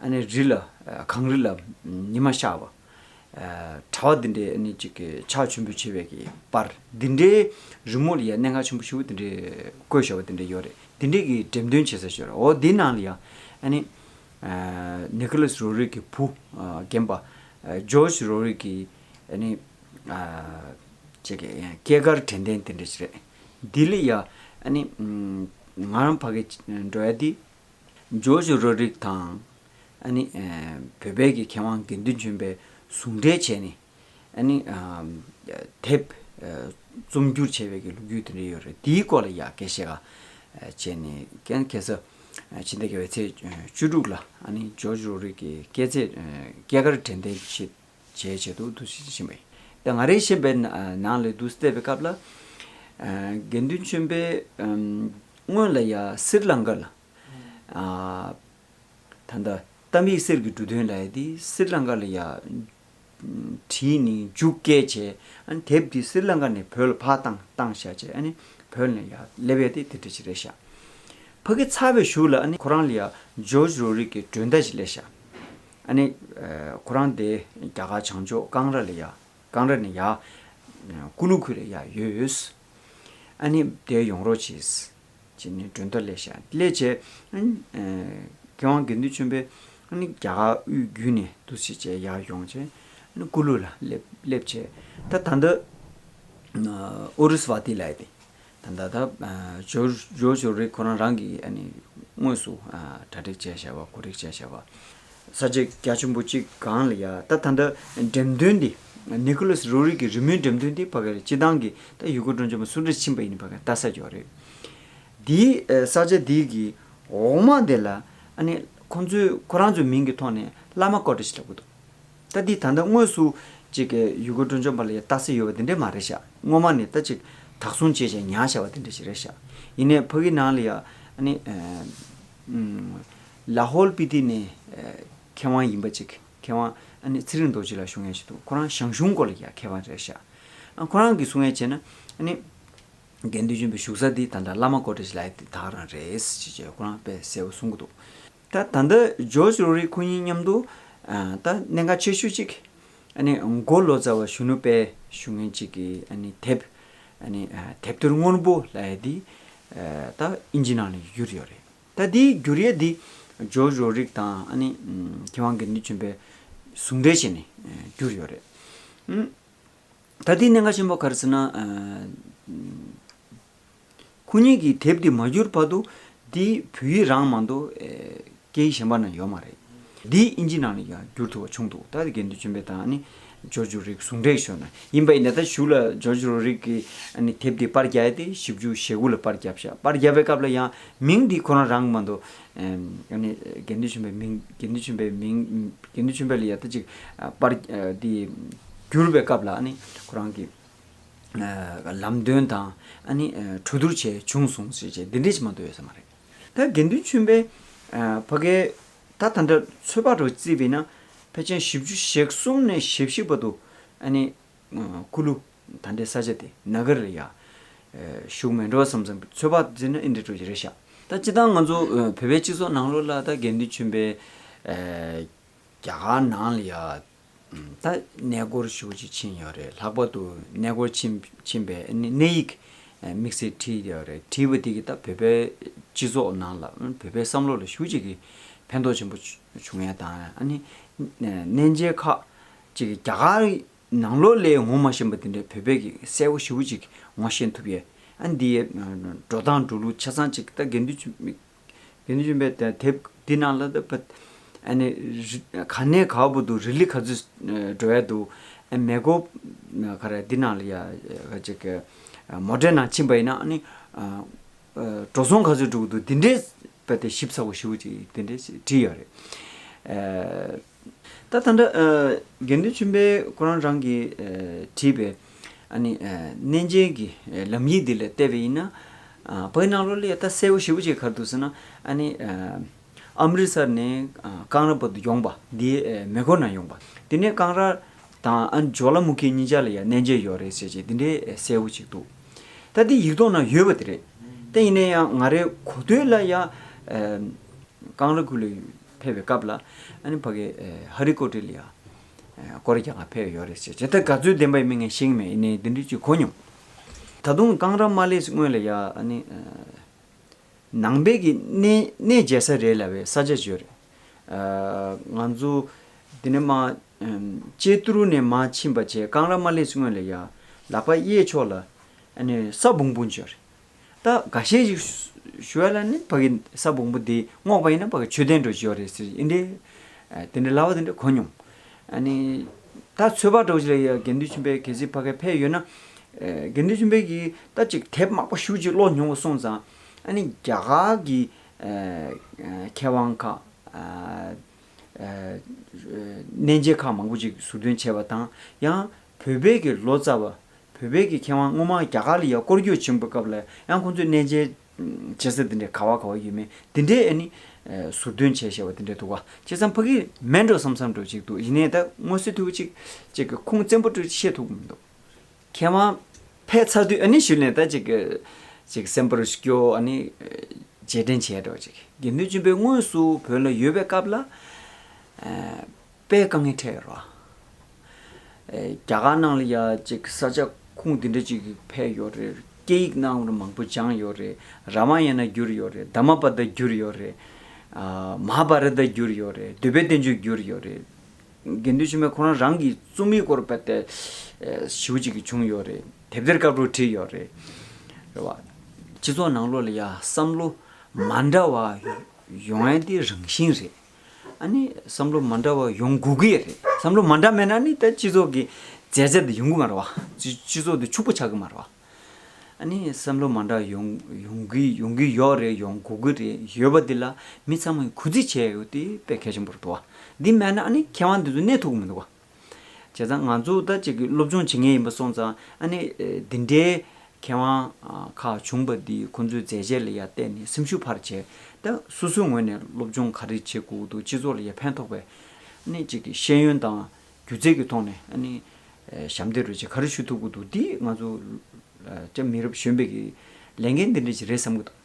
ཨ་ནི་རི་ལ་གངས་རི་ལ་ཉི་མ་ཤར་བ། དྲ་བ་འདི་འདྲའི་ཨ་ནི་གཅིག་གི་ཆ་ཆུན་པོ་ཆེ་བའི་གི་པར་འདི་འདྲའི་རི་མོ་ལ་ཡང་གནད་འགག་ཆུན་པོ་ཆུ་བོ་འདི་འདྲའི་བཀོད་ཞོར་བ་འདི་འདྲ་ཡོད་རེད་འདི་འདྲའི་གི་འགྲེམས་སྟོན་བྱེད་ས་ཞོར་རེད་འོ་འདི་ནང་ལ་ཡང་ཨ་ནི། Nicholas Roerich གི་བུ་རྒན་པ། George Roerich གི་ཨ་ནི། གཅིག་གི་སྐྱེས་སྐར་དྲན་རྟེན་འདི་འདྲ་ཞིག་རེད་འདི་ལ་ཡང་ཨ་ནི། ང་རང་ཕ་གི་འགྲོ་ཡ་འདི་ཇོ་ཇོ་རོ་རིགས་དང། ཨ་ནི། བོད་པའི་གི་མཁས་དབང་དགེ་འདུན་ཆོན་པའི་ཟུང་འབྲེལ་བྱས་ནས། ཨ་ནི། དེབ། རྩོམ་བསྒྱུར་བྱས་པའི་གི་ལུགས་རྒྱུད་དེ་འདྲ་ཡོད་རེད། དེའི་སྐོར་ལ་ཡག་གེ་བཤད་ག་བྱས་ནས་ཀན་གྷེ་ས། ཕྱི་ཟླ་བརྒྱད་པའི་ཚེས་བཅུ་དྲུག་ལ་ཨ་ནི་ཇོ་ཇོ་རོ་རིགས་ཀྱི་སྐྱེས་ཚེས་སྐྱེས་སྐར་དྲན་རྟེན་གྱི་ཆེད་བྱས་བྱས་འདུག་འདུག་སེ་ཆེན་པོ་ཡིན། དེ་སྔ་རེ་ཆེན་པོའི་ནང་ལས་འདུག་སེ་བའི་སྐབས་ལ། དགེ་འདུན་ཆོན་པོས་སྔོན་ལ་ཡང་སྲིད་ལང་ཀ་ལ། ད་ལྟ་གཏམ་ཡིག་གསེར་གྱི་འབྲུ་དོན་ལ་ཡ་དེ་སྲིད་ལང་ཀ་ལ་ཡ། བྲིས་ནས་འཇུག་སྐད་བྱས། དེབ་དེ་སྲིད་ལང་ཀ་ནས་བོད་ལ་ཕར་བཏང་བཏང་ཤག་བྱས་ནས་བོད་ལ་ཡ་སླེབས་ཡ་དེ་དེ་འདྲ་ཞིག་རེད་ཤག། ཕ་གི་ཚ་བའི་གཞུག་ལ་ཁོ་རང་ལ་ཡ་ཇོར་ཇོ་རིག་གི་གྲོས་མདའ་ཞིག་སླེབས་ཤག། ཨ་ནི། ཁོ་རང་དེ་རྒྱ་གར་བྱང་ཕྱོགས་ཀང་ར་ལི་ཡ། Kangra ནི་ཡ། སྐུ་ལུ་ཁུ་རེ་ཡ་ཡོད། ཨ་ནི། དེ་ཡོང་རོགས་བྱེད། ཅེས་ནི་སྒྲོན་ཐོ་ལས་བཤད། སླད་ཕྱིན། མཁས་དབང་དགེ་འདུན་ཆོས་འཕེལ། ཨ་ནི། རྒྱ་གར་དབུས་རྒྱུད་ནས་འདུ་བྱེད་བཅས་ཡར་ཡོང། ཅེས་ནི་སྐུ་ལུ་ལ་སླེབས། བྱས། ད་ད་འདི། ཨོ་རིས་བྷ་ཏི་ལའི། དང་ད་ལྟ་ཇོ་ཇོ་རིགས་ཁོ་རང་རང་གིས་དངོས་སུ་གྲ་སྒྲིག་བྱས་བྱས་བ་གོ་སྒྲིག་བྱས་བྱས་བ། ས་བཅད་རྒྱ་ཆེན་པོ་གཅིག་གང་ལ་ཡ་ད་ད་ལྟ་འགྲེམས་སྟོན་འདི་ནེ་ཁུ་ལོ་སི་རོ་རིགས་ཀྱི་རི་མོའི་འགྲེམས་སྟོན་འདི་ཕ་ག་རེ་སྤྱི་བཏང་གི་ད་ཡུ་གུར་འགྲོ་འཇོན་པ་སུ་འདྲ་ཕྱིན་པ་ཡིན་ནི་ཕ་ག་ལྟ་ས་རྒྱོ་རེད། འདིའི་ས་བཅད་འདི་གི་འོག་མ་འདི་ལ་ཁོ་ཚོས་ཁོ་རང་ཚོའི་མིང་གི་ཐོག་ནས་བླ་མ་བཀའ་བཀྲོལ་ཞིག་ལབ་དགོས་འདུག། ལྟ་འདི་ད་ལྟ་དངོས་སུ་ཅིག་ཡུལ་སྐོར་འགྲོ་འཇོམས་པ་ལ་ཡང་ལྟ་སེ་ཡོད་པ་འདི་འདྲས་མ་རེད་ཤག་སྔོན་མ་ནས་ལྟ་ཅིག་དག་སོང་བྱས་བྱས་མྱང་བྱས་པ་འདི་འདྲས་ཤིག་རེད་ཤག་ཡིན་ནས་ཕ་གི་ནང་ལ་ཡ་ནི་ལ་ཧོལ་པི་ཏི་ནས་མཁས་དབང་ཡིན་པ་ཅིག་མཁས་དབང་ཨ་ནི་ཚེ་རིང་རྡོ་རྗེ་ལགས་ཞུ་མཁན་ཞིག་འདུག་ཁོ་རང་ཞང་ཞུང་སྐོར་ལ་ཡ་མཁས་པ་རེད་ཤག་ཁོ་རང་གི་གསུང་ཡ་བྱས་ན་ཨ་ནི་དགེ་འདུན་ཆེན་པོའི་བཞུགས་ས་འདི་ད་ལྟ་བླ་མ་ཀོ་ཏྲེ་ཞིག་ལ་ཡ་དེ་དག་རང་རེད་ཅེས་བྱས་ཁོ་རང་དཔེ་གསལ་བོ་གསུང་གི་འདུག། ད་ད་ལྟ George Rory ཁོང་གཉིས་མཉམ་དུ་ད་གནད་འགག་ཆེ་ཤོས་ཅིག་མགོ་ལོག་རྩ་བ་གཞོན་ནུ་པའི་ཞུ་ངན་ཅིག་གི་དེབ་དེབ་ཐེར་སྔོན་པོ་ལ་ཡ་འདི་ད་ཨིན་ཇི་ནང་ལ་བསྒྱུར་ཡོད་རེད། ད་འདིའི་བསྒྱུར་ཡ་འདི George Rory དང་ཁྱེད་རང་དགེ་འདུན་ཆེན་པོའི་ཟུང་འབྲེལ་བྱས་ནས་བསྒྱུར་ཡོད་རེད། ད་འདིའི་གནད་འགག་ཆེན་པོ་ག་རེ་ཟེར་ན། ཁོ་གཉིས་ཀྱིས་དེབ་དེ་མ་བསྒྱུར་བར་དུ་དེ་བོད་ཡིག་རང་མང་དུ་སྐད་གཞན་པ་ན་ཡོད་མ་རེད། དེ་ཨིན་ཇི་ནང་ནས་ཀྱང་བསྒྱུར་ཐུབ་པ་བྱུང་འདུག་ད་དགེ་འདུན་ཆོས་འཕེལ་དང་ནི་ཇོར་ཇོ་རིག་ཟུང་འབྲེལ་ཞོར་ན་ཡིན་པ་ཡིན་ད་ལྟ་བཞུགས་ལ་ཇོར་ཇོ་རིག་གི་དེབ་དེ་པར་བརྒྱ་སྟེ་བཞི་བཅུ་ཞེ་དགུ་ལ་པར་བརྒྱབ་ཤག་པར་བརྒྱབ་པའི་སྐབས་ལ་ཡང་མིང་དེ་ཁོ་རང་རང་གི་མང་དུ་དགེ་འདུན་ཆོས་འཕེལ་མིང་དགེ་འདུན་ཆོས་འཕེལ་མིང་དགེ་འདུན་ཆོས་འཕེལ་ལ་ཡག་ད་ཅིག་པར་དེ་བསྒྱུར་བའི་སྐབས་ལ་ནི་ཁོ་རང་གི། ལམ་སྟོན་དང། གྲོས་བསྡུར་བྱས་བྱུང་གསུངས་ཞེས་བཅས་འདི་འདྲའི་ཕྱི་མ་དུ་ཡོད་ས་མ་རེད། ད་དགེ་འདུན་ཆོས་འཕེལ་བྷ་གའི་ད་ད་འདྲ་ཚོད་དཔག་གྲོགས་རྩིས་པས་ན་ཕལ་ཆེན་བཞི་བཅུ་ཞེ་གསུམ་ནས་ཞེ་བཞི་བར་དུ་སྐུ་ལུ་ད་འདྲའི་ས་ཆ་དེ་ན་ག་རེ་ཡག་བཞུགས་མེད་འགྲོ་བསམ་བསམ་ཚོད་དཔག་བྱས་ན་ཨེ་འདྲ་འགྲོ་གི་རེད་ཤག་ད་སྤྱི་སྟངས་ང་ཚོ་བོད་པའི་སྤྱི་ཚོགས་ནང་ལོགས་ལ་ད་དགེ་འདུན་ཆོས་འཕེལ་བྷ་ག་ནང་ལ་ཡག་ད་གནས་སྒོར་ཞུགས་ཅིག་ཕྱིན་ཡོད་རེད་ལྷག་པར་དུ་གནས་སྒོར་ཕྱིན་པའི་གནས་ཡིག་དམིགས་བསལ་བྲིས་ཡོད་རེད་བྲིས་པ་དེ་གིས་ད་བོད་པའི་སྤྱི་ཚོགས་ནང་ལ་བོད་པའི་བསམ་བློ་ལ་ཞུགས་ཅིག་གིས་ཕན་ཐོགས་ཆེན་པོ་བྱུང་ཡ་དང་གནས་མཇལ་ཁག་ཅིག་གིས་རྒྱ་གར་ནང་ལོ་ལེགས་ངོ་མ་བཞིན་པ་དེ་འདྲའི་བོད་པའི་གསལ་བོ་ཞིབ་བོ་ཅིག་ངོ་ཤེས་ཐུབ་ཡས་འདིའི་འགྲོ་སྟངས་འགྲོ་ལུགས་ཆ་ཚང་ཅིག་ད་དགེ་འདུན་དེ་ནས་བྱོན་པས་དེབ་འདི་ནང་ལ་བདག་ག་ནས་ག་བུ་འདུག་རི་ལི་ག་ཚོད་འགྲོ་ཡ་འདུག་མེ་གོ་ག་ར་འདི་ནང་ལ་ཡ་ཅེ་ཀ་མོ་འདྲེ་ནང་ཕྱིན་པ་ཡིན་ན་འགྲོ་སོང་ག་ཚོད་འགྲོ་གི་འདུག་འདི་འདྲའི་བ་དེ་ཞིབ་ཚགས་པོ་ཞུ་བ་ཅིག་འདི་འདྲས་བྲིས་ཡོད་རེད། ད་ད་འདྲ། དགེ་འདུན་ཆེན་པོས་ཁོ་རང་རང་གིས་བྲིས་པའི། གནས་མཇལ་གྱི་ལམ་ཡིག་འདི་ལས་བལྟས་པས་ཡིན། བོད་ནང་ལོ་ལེགས་ཟླ་གསལ་བོ་ཞེ་བོ་ཅིག་གི་ཁར་འདུག་ཟེར་ན། ཨ་མི་རི་སར་ནས་ཀང་ར་བོད་དུ་ཡོང་པ་དེའི་མེ་འཁོར་ནང་ཡོང་པ། དེ་ནས་ཀང་ར་དང་ཇོ་ལ་མུ་ཁི་གཉིས་ཅག་ལ་ཡང་གནས་མཇལ་ཡོད་རེད་ཟེར་བྱས་དེ་འདྲའི་གསལ་བོ་ཅིག་འདུག་ད་དེ་ཡིག་ཐོག་ན་ཡོད་པ་དེ་རེད། ད་ཡིན་ན་ཡང་ང་རའི་གོ་ཐོས་ལ་ཡང། ཀང་ར་ཁུལ་ལ། ཕེབས་པའི་སྐབས་ལ་ཨ་ནི་བྷ་གའི་ཧ་རི་ཀོ་ཏི་ལི་ཡ་སྐོར་རྒྱ་གར་ཕེབས་ཡོད་རེད་ཅེས་བརྗོད་དེ་ག་ཚོད་བདེན་པའི་མི་ངན་ཤིག་མེད་ཡིན་ནའི་འདི་འདྲིས་ཀྱིས་གོ་མྱོང། ད་དུང་ཀང་ར་མ་ལེས་སྔོན་ལ་ཡ་ཨ་ནི་ནང་བེད་ཀྱི་གནས་མཇལ་ས་རེད་ལ་བའི་ས་ཆ་བརྗོད་རེད། ང་ཚོ་འདི་ནས་མ་ཅེ་ཏུརུ་ནས་མ་ཕྱིན་པ་བྱས་ཀང་ར་མ་ལེས་སྔོན་ལ་ཡ་ལག་པ་གཡས་ཕྱོགས་ལ་ཨ་ནི་ས་བུང་བུང་བརྗོད་རེད། ད་ག་ཤེད་ཅིག་ཞུ་བ་ལ་ནི་ཕ་གི་ས་བོང་བུ་དེ་སྔོག་པ་ཡིན་ན་ཕ་གི་མཆོད་རྟེན་འགྲོ་བྱེད་ཡོག་རེད་ཟེར་གྱི་འདི་འདྲའི་ལྭ་བ་འདི་འདྲ་གོ་མྱོང། ཨ་ནི། ད་ཚོད་དཔག་གྲོགས་ཅིག་ལ་དགེ་འདུན་ཆེན་པོའི་གལ་སྲིད་ཕ་གའི་ཕས་ཡོད་ན། དགེ་འདུན་ཆེན་པོའི་གིས་ད་ཅིག་དེབ་མང་པོ་ཞུ་ཅིག་ཀློག་མྱོང་བ་སོང་ཙང། ཨ་ནི་རྒྱ་གར་གྱི་མཁས་དབང་ཁག། གནས་མཇལ་ཁག་མང་པོ་ཅིག་ཟུར་འདོན་བྱས་པ་དང་ཡང་བོད་བོད་ཀྱི་ལོ་ཙཱ་བ། བོད་བོད་ཀྱི་མཁས་དབང་སྔོན་མ་རྒྱ་གར་ལ་ཡང་སྐོར་སྐྱོད་བྱེད་འབུལ་སྐབས་ལ་ཡང་ཁོང་ཚོས་གནས་མཇལ། བྱེད་ས་འདི་འདྲའི་ག་བ་ག་བ་ཡོད་མེད་འདི་འདྲའི་ཨ་ནི། ཟུར་འདོན་བྱས་ཞེས་བ་འདི་འདྲའི་འདུག་བ། བྱས་ཙང་ཕ་གིས་མེད་འགྲོ་བསམ་བསམ་འགྲོ་གཅིག་འདུག་ཡིན་ནའི་ད་དངོས་སུ་ཐུ་བོ་གཅིག། ཅིག་གི་ཁུངས་བཙན་པོ་ཏུ་ཤེས་ཐུབ་ཀྱི་མི་འདུག། མཁས་དབང། ཕའི་ཚ་དུས་ཨ་ནི་ཞུ་ལན་ད་ཅིག་གི། ཅིག་སེམས་པར་སྐྱོ་ཨ་ནི། རྗེས་དྲན་བྱས་འགྲོ་ཅིག་དགེ་འདུན་ཆེན་པོའི་དངོས་སུ་བོད་ལ་ཡོད་པའི་སྐབས་ལ། པའི་དཀའ་ངལ་འཕྲད་ཡོད་རེད། རྒྱ་གར་ནང་ལ་ཡང་ཅིག་ས་ཆ་ཁུངས་འདི་འདྲ་ཅིག་གི་འཕེལ་ཡོད་རེད། སྐད་ཡིག་སྣང་བར་མང་པོ་སྦྱངས་ཡོད་རེད། ར་མ་ཡན་ན་བསྒྱུར་ཡོད་རེད། དཱ་མ་པ་ཏཱ་བསྒྱུར་ཡོད་རེད། མཧཱ་བྷ་ར་ཏཱ་བསྒྱུར་ཡོད་རེད། བསྡུས་པའི་བསྟན་བཅོས་བསྒྱུར་ཡོད་རེད། དགེ་འདུན་ཆོས་མེད་ཁོ་རང་རང་གི་རྩོམ་ཡིག་སྐོར་བལྟས་ཞིབ་ཅིག་བྱུང་ཡོད་རེད། དེབ་ཐེར་དཀར་པོར་བྲིས་ཡོད་རེད། རེད་བ། སྤྱི་ཚོགས་ནང་ལོགས་ལ་ཡང་བསམ་བློ་མ་འདྲ་བ་ཡོང་ཡ་དེ་རང་བཞིན་རེད། ཨཱ་ནི་བསམ་བློ་མ་འདྲ་བ་ཡོང་དགོས་ཀྱི་རེད། བསམ་བློ་མ་འདྲ་མེད་ན་ནི་ད་སྤྱི་ཚོགས་ཀྱི་མཛད་བྱ་དེ་ཡོང་གི་མ་རེད་བ། སྤྱི་ཚོགས་དེ་ཕྱུག་པོ་ཆགས་ཀྱི་མ་རེད་བ། ཨཱ་ནི་བསམ་བློ་མ་འདྲ་ཡོང་ཡོང་གི་ཡོང་གི་ཡོད་རེད་ཡོང་དགོས་ཀྱི་རེད་ཡོད་པ་དེ་ལ་མི་ཚང་མས་གུས་བརྩི་བྱས་ཡོད་དེ་དཔེ་གལ་ཆེན་པོ་རེད་བ། འདི་མེད་ན་ཨཱ་ནི་མཁས་དབང་དེ་ཚོ་གནས་ཐུབ་ཀྱི་མི་འདུག་བ། བྱས་ཙང་ང་ཚོ་ད་ཅིག་སློབ་སྦྱོང་བྱེད་ངེས་ཡིན་པ་སོང་ཙང་ཨ་ནི་འདི་འདྲའི་མཁས་དབང་ཁག་བྱུང་པ་འདིས་ཁོང་ཚོའི་མཛད་རྗེས་ལ་ཡར་བལྟས་ནས་སེམས་ཤུགས་འཕར་བྱས། ད་སོ་སོའི་ངོས་ནས་སློབ་སྦྱོང་ག་རེ་བྱེད་དགོས་འདུག་སྤྱི་ཚོགས་ལ་ཡར་ཕན་ཐོགས་པའི་ཨ་ནི་ཅིག་ཤེས་ཡོན་དང་སྒྱུ་རྩལ་གྱི་ཐོག་ནས་ཨ་ནི་ཞབས་འདེགས་རོལ་ཆེད་ག་རེ་ཞུ་ཐུབ་དགོས་འདུག་འདིས་ང་ཚོ་ལྕམ་མི་རབས་གཞོན་པའི་གི་ལས་འགན་འདི་འདྲ་ཞིག་རེད་བསམ་གི་འདུག།